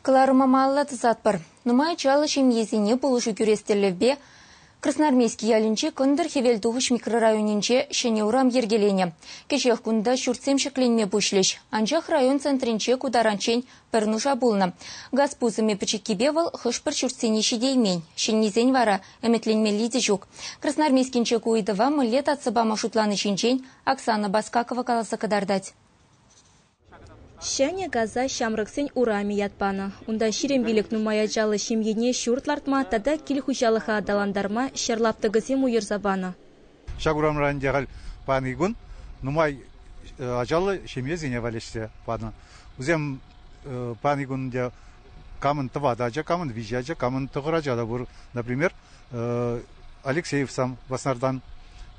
Кӑларӑмӑмалла тӑсатпӑр. Нумай ачаллӑ ҫемьесене пулӑшу кӳрес тӗллевпе Красноармейски ялӗнчи Кӑнтӑр-Хӗвелтухӑҫ микрорайонӗнче ҫӗнӗ урам йӗркеленӗ. Кӗҫех кунта ҫуртсем ҫӗкленме пуҫлӗҫ. Анчах район центрӗнче ку таранччен пӗр нуша пулнӑ. Газ пусӑмӗ пӗчӗккипе вӑл хӑш-пӗр ҫуртсене ҫитеймен. Ҫӗннисен вара ӗмӗтленмелли те ҫук. Красноармейскинче ку ыйтӑва мӗнле татса пама шутлани ҫинчен Оксана Баскакова каласа кӑтартать. Ҫӗнӗ Каза ҫамрӑксен урамӗ ят панӑ. Унта ҫирӗм пилӗк нумай ачаллӑ ҫемьене ҫурт лартма тата кил хуҫалӑха аталантарма ҫӗр лаптӑкӗсем уйӑрса панӑ. Ҫак урамра ӗнтӗ халь паянхи кун нумай ачаллӑ ҫемьесене валеҫсе панӑ. Вӗсем паянхи кун ӗнтӗ камӑн тӑватӑ ача, камӑн виҫӗ ача, камӑн тӑхӑр ача та пур. Например, Алексеевсам Васнартан.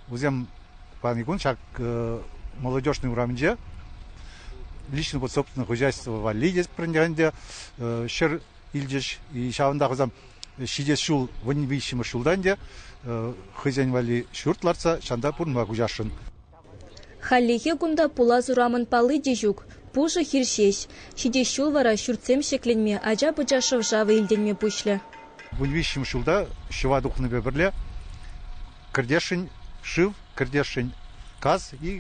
Вӗсем пани кун ҫак молодежный урамӗнче личное вот собственное хозяйство валли те ҫӗр илчӗҫ. И ҫавӑнта хӑсам ҫитес ҫул вӑнни виҫҫӗмӗш ҫултан те хӑйсен валли ҫурт лартса ҫанта пурӑнма куҫасшӑн. Хальлӗхе кунта пулас урамӑн палли те ҫук, пушӑ хир ҫеҫ. Ҫитес ҫул вара ҫуртсем ҫӗкленме, ача-пӑча шӑв-шавӗ илтӗнме пуҫлӗ. Вун виҫҫӗмӗш ҫулта ҫӑва тухнипе пӗрле кӗртесшӗн шыв, кӗртесшӗн газ и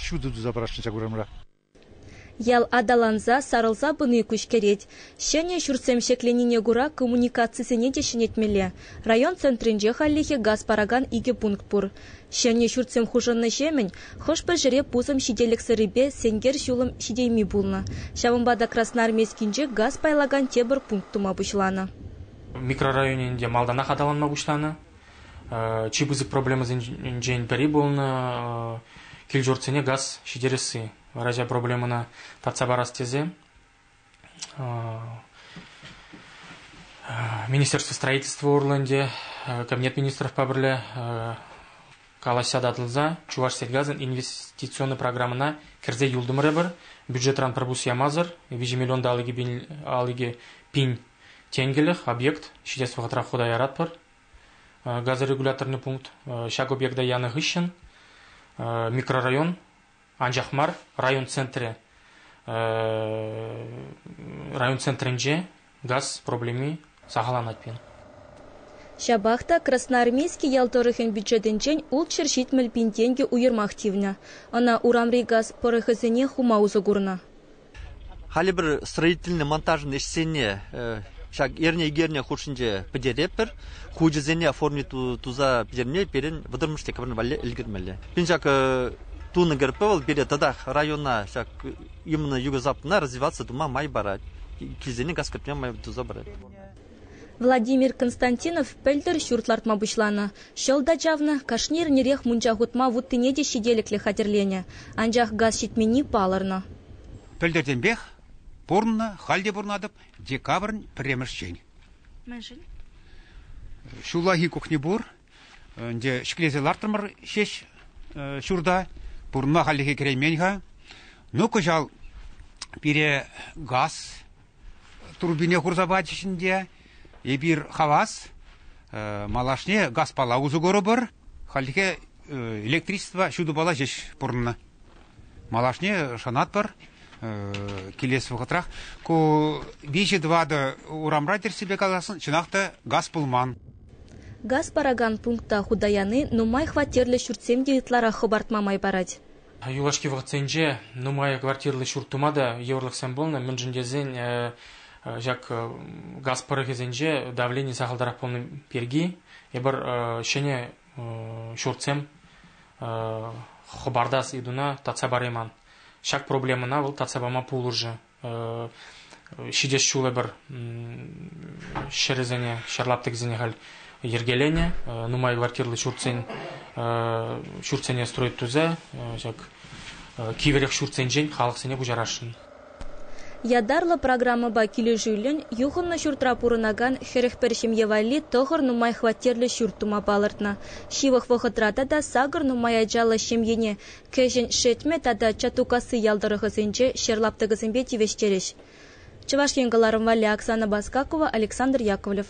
ҫутӑ туса парасшӑн ҫак урамра. Ял аталанса, сарӑлса пыни куҫкӗрет. Ҫӗнӗ ҫуртсем ҫӗкленине кура коммуникацисене те ҫӗнетмелле. Район центрӗнче хальлӗхе газ паракан икӗ пункт пур. Ҫӗнӗ ҫуртсем хушӑннӑҫемӗн хӑш-пӗр ҫӗре пусӑм ҫителӗксӗррипе сенкер ҫулӑм ҫитейми пулнӑ. Ҫавӑнпа та Красноармейскинче газ пайлакан тепӗр пункт тума пуҫланӑ. Микрорайонӗн те малтанах аталанма пуҫланӑ. Чи пысӑк проблемӑсенчен пӗри пулнӑ кил-ҫуртсене газ ҫитересси. Раҫа проблемӑна татса парас тесе Министерство строительства урлӑ ӗнтӗ Кабинет министровпа пӗрле калаҫса татӑлса Чувашсельгазӑн инвестиционный программӑна кӗрсе юлтӑмӑрӑпӑр. Бюджетран пӗр пус ямасӑр 2 миллион та алӑкӗ пин Тенкӗлӗх объект ҫитес вӑхӑтра хута яратпӑр. Газорегуляторный пункт ҫак объекта янӑ хыҫҫӑн микрорайон анчах мар район центрӗ район центрӗнче газ проблеми сахалланать пирӗн. Ҫапах та Красноармейски ял тӑрӑхӗн бюджетӗнчен ултҫӗр ҫитмӗл пин тенкӗ уйӑрмах тивнӗ. Ӑна урамри газ пӑрӑхӗсене хума усӑ курнӑ. Халӗ пӗр строительнӑй монтажӑн ӗҫсене ҫак эрне-икерне хушшинче пӗтеретпӗр. Хучӗсене оформи туса пӗтерни пирӗн вӑтӑрмӗш декабрь валли ӗлкӗрмелле. Пин ҫак тунӑ кӗрпе вӑл пире татах района ҫак именно юго-западна развиваться тума май парать. Килсене газ кӗртме май туса парать. Владимир Константинов пӗлтӗр ҫурт лартма пуҫланӑ. Ҫӑл та чавнӑ, кашни эрнерех мунча хутма вуттине те ҫителӗклӗ хатӗрленӗ, анчах газ ҫитменни палӑрнӑ. Пӗлтӗртенпех пурӑннӑ, халь те пурӑнатӑп декабрӗн пӗрремӗшчен. Мӗншӗн? Ҫуллахи кухня пур, ӗнтӗ ҫӗклесе лартрӑмӑр ҫеҫ ҫурта. Пурӑнма хальлӗхе кӗреймен-ха. Ну, кӑҫал пире газ турбине хурса пачӗҫ ӗнтӗ. Эпир хавас, малашне газпала усӑ курӑпӑр. Хальлӗхе электричество ҫутӑпала ҫеҫ пурӑннӑ. Малашне шанатпӑр, килес вӑхӑтрах ку виҫӗ-тӑватӑ урамра тӗрӗссипе каласан чӑнах та газ пулман. Газ паракан пункта хута яни нумай хваттерлӗ ҫуртсем те ытларах хӑпартма май парать. Юлашки вӑхӑтсенче нумай квартирлӑ ҫурт тума та йывӑрлӑхсем пулнӑ, мӗншӗн тесен ҫак газ пӑрӑхӗсенче давлени сахалтарах пулни пирки эпир ҫӗнӗ ҫуртсем хӑпартас ыйтуна татса парайман. Ҫак проблемӑна вӑл татса пама пулӑшӗ. ҫитес ҫул эпир ҫӗрӗсене, ҫӗр лаптӑкӗсене халь йӗркеленӗ. Нумай квартирлӑ ҫуртсен ҫуртсене строить тусе ҫак кивӗрех ҫуртсенчен халӑхсене пуҫарасшӑн. Ятарлӑ программӑпа килӗшӳллӗн юхӑннӑ ҫуртра пурӑнакан хӗрӗх пӗр ҫемье валли тӑхӑр нумай хваттерлӗ ҫурт тума палӑртнӑ. Ҫывӑх вӑхӑтра тата сакӑр нумай ачаллӑ ҫемьене Кӗҫӗн Шетмӗ тата Чатукасси ял тӑрӑхӗсенче ҫӗр лаптӑкӗсемпе тивӗҫтерӗҫ. Чӑваш Ен кӑларӑм валли Оксана Баскакова, Александр Яковлев.